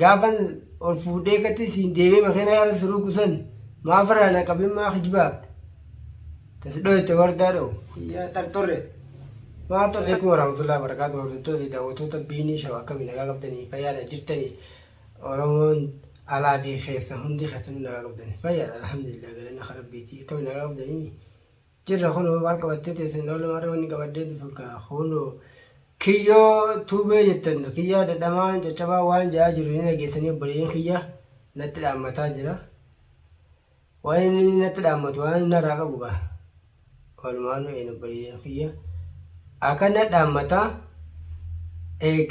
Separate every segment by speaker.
Speaker 1: Gaafan ol fuudhee katti siin deemee makiina yaala siruu kusan maaf irraa na qabin maa kijbaafte tas dhoyte wardaa dho yaa xarxorre maa xorre kuma raamtullaa barakaatu hordoftoota fi daawwattoota biinii shaw akkami nagaa qabdanii fayyaadha jirtanii oromoon alaa fi keessa hundi keessanuu nagaa qabdanii fayyaadha alhamdulillah galanni kan rabbiitii akkami nagaa qabdanii Jirra kunoo maal qabattee teessa hin oolu maarree wanni qabaddee dhufu kaa kunoo kiyyoo tuubee jettan kiyyaa dadhamaa caccabaa waan ja'aa jiru ni dhageessanii obboleeyyan kiyya natti dhaammataa jira waan inni natti dhaammatu waan inni irraa qabu gaa walumaanu een obboleeyyan kiyya akka na dhaammata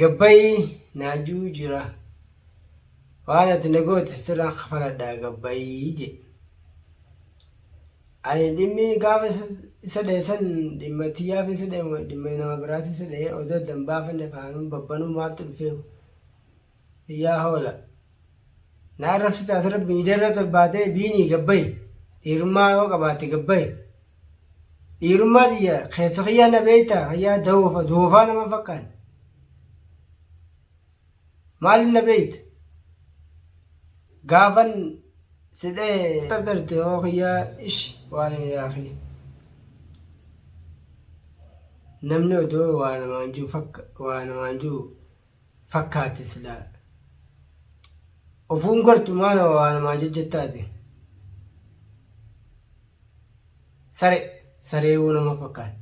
Speaker 1: gabbayii naajuu jira waan ati na goote sirraan kafaladhaa gabbayii jedhe Ani dhimmi gaafa isa dhahe san dhimma tiyyaaf isa dhahe moo dhimma nama biraati isa dhahe odoo adda hin baafanne kaanuu babbanuu maaltu dhufee yaa hoola. Na arrabsi taate rabbi miidiyaa irratti ol baatee biinii gabbayi dhiirummaa yoo qabaatte gabbayi. Dhiirummaa tiyya keessa kiyyaa na beektaa kiyyaa dawoofa doofaa nama fakkaan. Maaliif na beeyta? Gaafan si dhahe. Qadarte hoo kiyya ish waa'ee yaa kiyya. Namni odoo waa namaan jiru fakka waa namaan jiru fakkaate silaa. Ofuun gartu maa nama waa namaa jajjattaate. Sare sareewuu nama fakkaate.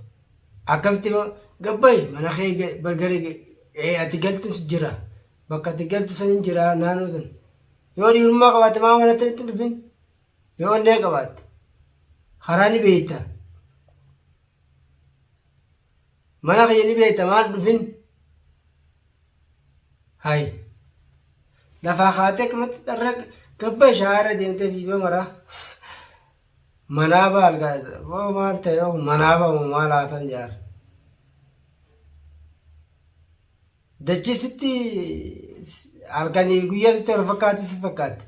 Speaker 1: Akkamitti ma gabbayi mana kee ga- bar gara ga- ee, ati galtus jira bakka ati galtu san hin jira naannoo san yoo dhiirummaa qabaatte maa mana akkamitti hin dhufin yoo onnee qabaatte karaa ni beeyta mana kiyya ni beeyta maal dhufin hay lafaa kaatee akkamitti dharra gabbayi shaara deemtee fiidoo maraa Manaa ba algaa isa boo maal ta'e oo manaa ba moo maal haasan jaar. Dachii sitti halkanii fi guyyaa sitti wal fakkaatti si fakkaatti.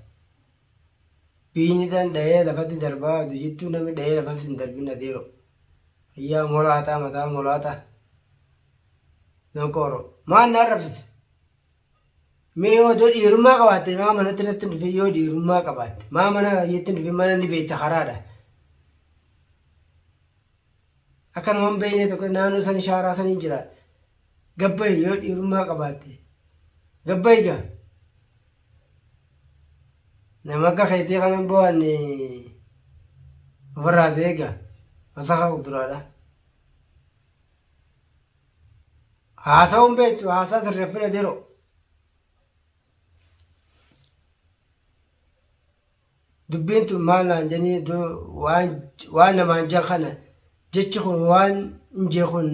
Speaker 1: Biyni dhan dhahee lafatti darbaa utuu jettuu namni dhahee lafatti hin darbin adeero. Yaa molaataa mataa molaataa. Donqooro. Maal na arrabsite? Mee yoo odoo dhiirummaa qabaatte maa manatti natti hin dhufin yoo dhiirummaa qabaatte maa mana yetti hin dhufin mana ni beekta karaadha. Akka nama hin beekne tokko naannoo san shaaraa san hin jira. Gabbayi yoo dhiirummaa qabaatte. Gabbayi gaa. Nama akka keetii kanan bo'anne ofirraa ta'ee gaa. Wasaka kuduraadha. Haasawuun beektu haasaa sirreeffina diroo. Dubbiin tun maal naan janii waan namaan jan kana jechi kun waan injee kun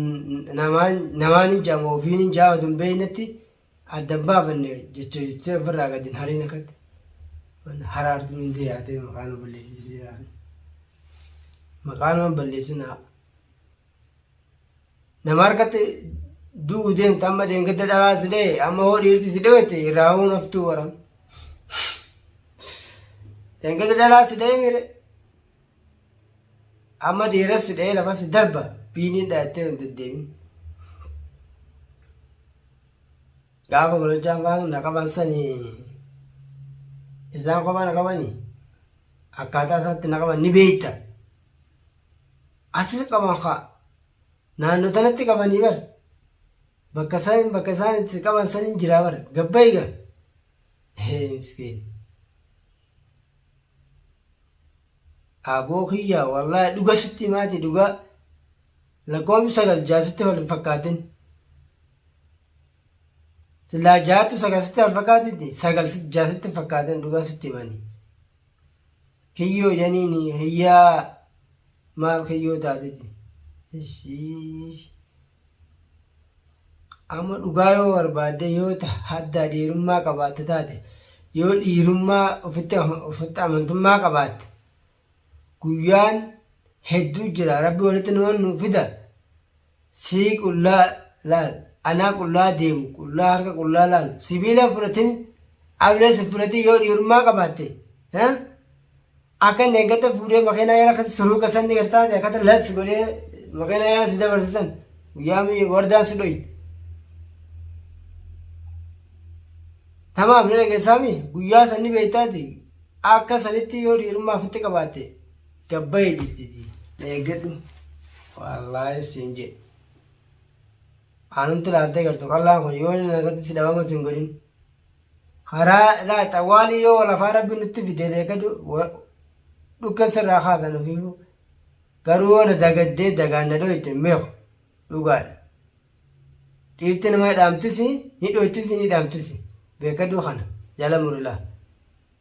Speaker 1: namaan hin jaama ofiin hin jaama tun beeknetti adda hin baafanne jecha jettee ofirraa gadi hin hariin akkatti. Haraartuun hin deeyaatee maqaan balleessisee maqaan waan balleessinaa. Nama harkatti du'u deemta amma deengadda dhalaa si dhee amma hoo dhiirti si dhoyte irraa hoo naftuu waran. Deengadda dhalaa si dhee mire amma dhiiras si dhee lafa si darba biiniin dhayattee hin deddeemin. Gaafa gololchaan faan na qaban sanii isaan kophaa na qabanii akkaataa isaatti na qaban ni beekta. Asis qaban kaa naanno tanatti qabanii bar bakka isaan bakka isaan itti qaban san hin jiraa bar gabbayi gaa hee miskiin aboo kiyyaa wallaahi dhuga sitti maati dhugaa lakkoofni sagal jaasitti wal hin fakkaatin silaa jaattu sagal sitti wal fakkaatitti sagal jaasitti hin fakkaatin dhugaa sitti mani Kiyyoo janiini kiyyaa maaf kiyyoo taateti. Ishiish. Amma dhugaa yoo barbaadde yoo ta- haddaa dhiirummaa qabaatte taate yoo dhiirummaa ofitti ofitti amantummaa qabaatte guyyaan hedduu jira rabbi walitti nama nu fida sii qullaa laal anaa qullaa deemu qullaa harka qullaa laalu sibiila hin fudhatin ablee sin fudhatin yoo dhiirummaa qabaatte ha akka inni eeggata fuudhee makiinaa yala akkatti suruuqa sanni gartaate akkata las godhee makiinaa yala si dabarsisan guyyaa mi- wardaan si dhoyte tamaaf ni dhageessaami guyyaa sanni beektaati akka sanitti yoo dhiirummaa ofitti qabaatte Gabbaye jettiti na eeggadhu. Wallaahi siin jedhe. Aanumti laaltee gartu qallaan kun yoo inni nagatti si dhabama siin godhin. Karaa laa xawwaalii yoo lafaa rabbi nutti fide deegadu dhukkee sirraa kaasan ofiifu. Garuu yoo na dagaddee dagaan na dhooyte meeku dhugaadha. Dhiirti nama dhaamtisi ni dhooytisi ni dhaamtisi beekaduu kana jala murilaa.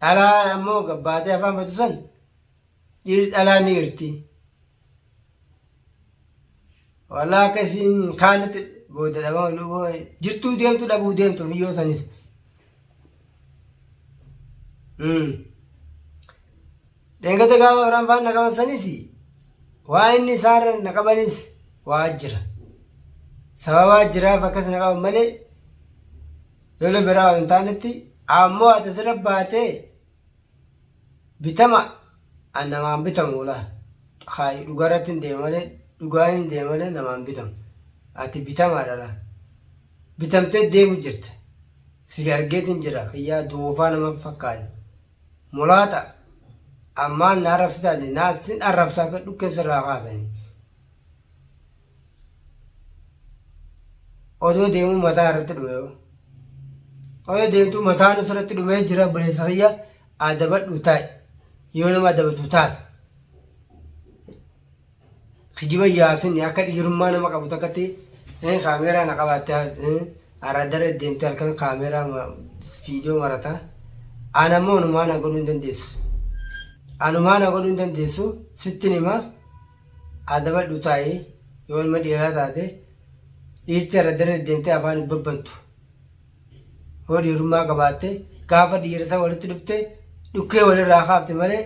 Speaker 1: Dhalaa ammoo gabbaatee afaan batu san dhiirri dhalaa ni irti. Walaa akka isiin hin kaanetti booda dhabama luboo jirtuu deemtu dhabuu deemtu miyyoo sanis. Mm. Dheegate gaafa biraan faan na qaban sanis waa inni isaarra na qabanis waa jira. Sababaa jiraaf akkas na qaban malee lola biraa hin taanetti ammoo ati asirra baatee bitama an namaan bitamu laa. Haay dhugaarratti hin deema malee dhugaan hin deema malee namaan bitamu. Ati bitamaadha laa. Bitamtee deemu jirta. Si argeetiin jira kiyyaa doofaa nama fakkaate. Mulaata ammaan na arrabsitaa jedhe naa sin arrabsaa akka dhukkee sirraa kaasanii. Odoo deemuu mataa irratti dhume yoo. Odoo deemtuu mataan ofirratti dhumee jira buleessa kiyya adabadhu taa'i yoo nama adabatu taate. Kijiba yaasin akka dhiirummaa nama qabu takkatti eh, kaameeraa na qabaatte eh, araaddarra deemte halkan kaameeraa ma- viidiyoo marata. Ana immoo anumaa na godhuu hin dandeessu. Anumaa na godhuu hin dandeessu sittin hima adabadhu taa'ii yoo ilma dhiiraa taate dhiirti araaddarra deemtee afaan hin babbantu. Yoo dhiirummaa qabaatte gaafa dhiirasa walitti dhufte dhukkee walirraa kaafte malee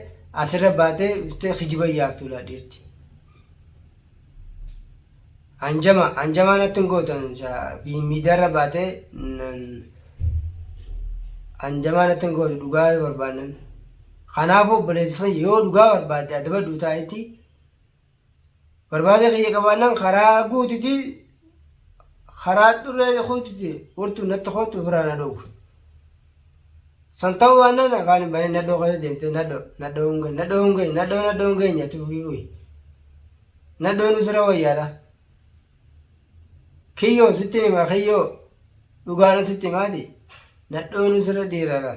Speaker 1: asirra baatee dhuftee kijiba yaaftu laa dhiirti. Hanjama hanjamaa natti hin gootan miidiyaarra baatee hanjamaa natti hin gootu dhugaa barbaannan. Kanaafuu obboleessi sun yoo dhugaa barbaadde adabadhu taa'itti Barbaada kiyya qabaannaan karaa guutiti karaa xurree kuutiti furtuu natti kootu ofirraa na dhowwe. San ta'uu baannaan afaan hin banee nadhoo keessa deemtee nadhoo nadhoo hin geenye nadhoo hin geenye nadhoo nadhoo hin geenye ati fufii fuyi. Nadhoo nu sira wayyaadha. Kiyyoo sittin himaa kiyyoo dhugaadha sitti himaati nadhooni sirra dhiirara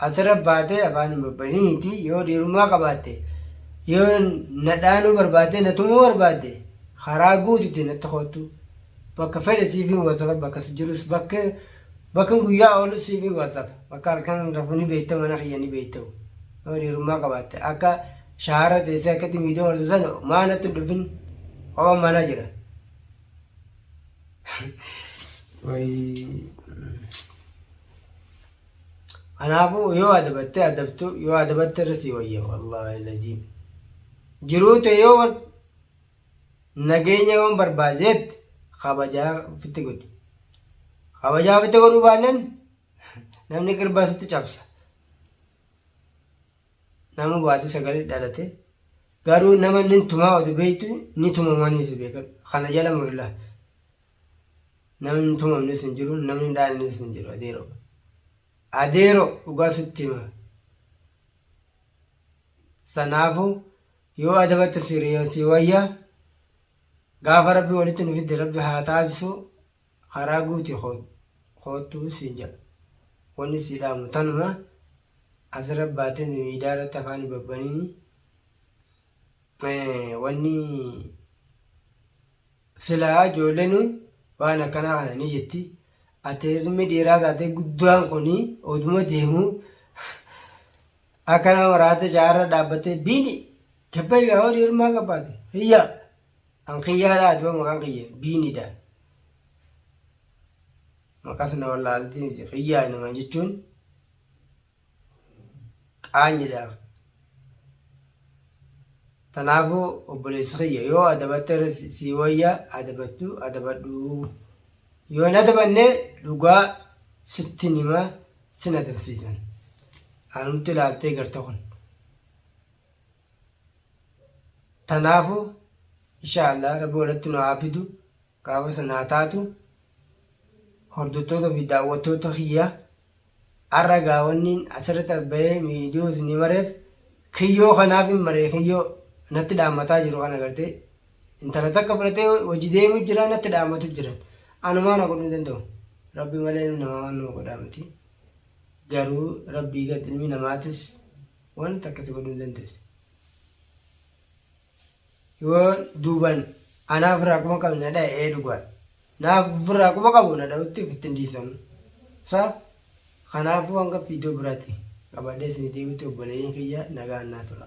Speaker 1: asirra baatee afaan hin babbaniiti yoo dhiirummaa qabaatte yoo nadhaanuu barbaadde natumuu barbaadde karaa guututti natti koottu bakka fedhe siifin wasafa bakka si jirus bakka bakkan guyyaa oolus siifin wasafa bakka halkan rafu ni beekta mana kiyya ni beekta yoo dhiirummaa qabaatte akka Shaara teessee akkatti miidiyaa wartu san maa natti hin dhufin ho'a mana jira. Kanaafuu yoo adabattee adabtu yoo adabatte irra sii wayya wallaahi laziim. Jiruu tee yoo wan nageenya yoon barbaade jette kabajaa ofitti godhi. Kabajaa ofitti godhuu baannaan namni qirbaa sitti cabsa. nama baati sagali dhalate garuu nama nin tumaa odi beeytu ni tumamaniisu beekan kana jala murila namni tumamnis hin jiru namni dhaalnis hin jiru adeero adeero dhugaa sitti hima sanaafu yoo adabatte siriyoo si wayya gaafa rabbi walitti nu fidde rabbi haa taasisu Karaa guuti koottu siin jedha. Wanni sii dhaamu tanuma. Asirra baatee miidiyaa irratti afaan hin babbaniini. Wanni silaa ijoolleen waan akkanaa kana ni jetti. Ati ilmi dhiiraa taatee guddaan kun oduma deemu akka nama raate shaarra dhaabbatee biini gabbayi haa horii hirmaa qabbaate hiyyaa. Kan kiyyaa laa duba maqaan kiyya biinidha. Maqas na wallaalti miti kiyyaa naman jechuun qaanyidhaaf. Tanaafuu obboleessi kiyya yoo adabatte irra si- sii wayya adabattu adabadhu. Yoo hin adabanne dhugaa sitti nima sin adabsiisan. Anumti ilaaltee garte kun. tanaafu insha Allah rabbi walitti nu haa fidu gaafa san haa taatu hordottoota fi daawwattoota kiyya har'a gaawanniin asirratti as bahee miidiyoo isinii mareef kiyyoo kanaaf hin maree kiyyoo natti dhaammataa jiru kana gartee intala takka fudhatee hojii deemu jira natti dhaammatu jiran anumaa na godhuu danda'u rabbi malee namaa waan nama godhaa miti garuu rabbii gad ilmi namaatis Waan takka si godhuu hin dandeessu. Yoo duubaan anaa ofirraa quba qabe na dhaye ee dhugaadha. Naaf ofirraa quba qabu na dhawutti ofitti hin dhiisamu. Sa kanaafuu hanga viidiyoo biraatti qabadhee isinii deebitti obboleeyyan kiyya nagaan naa tura.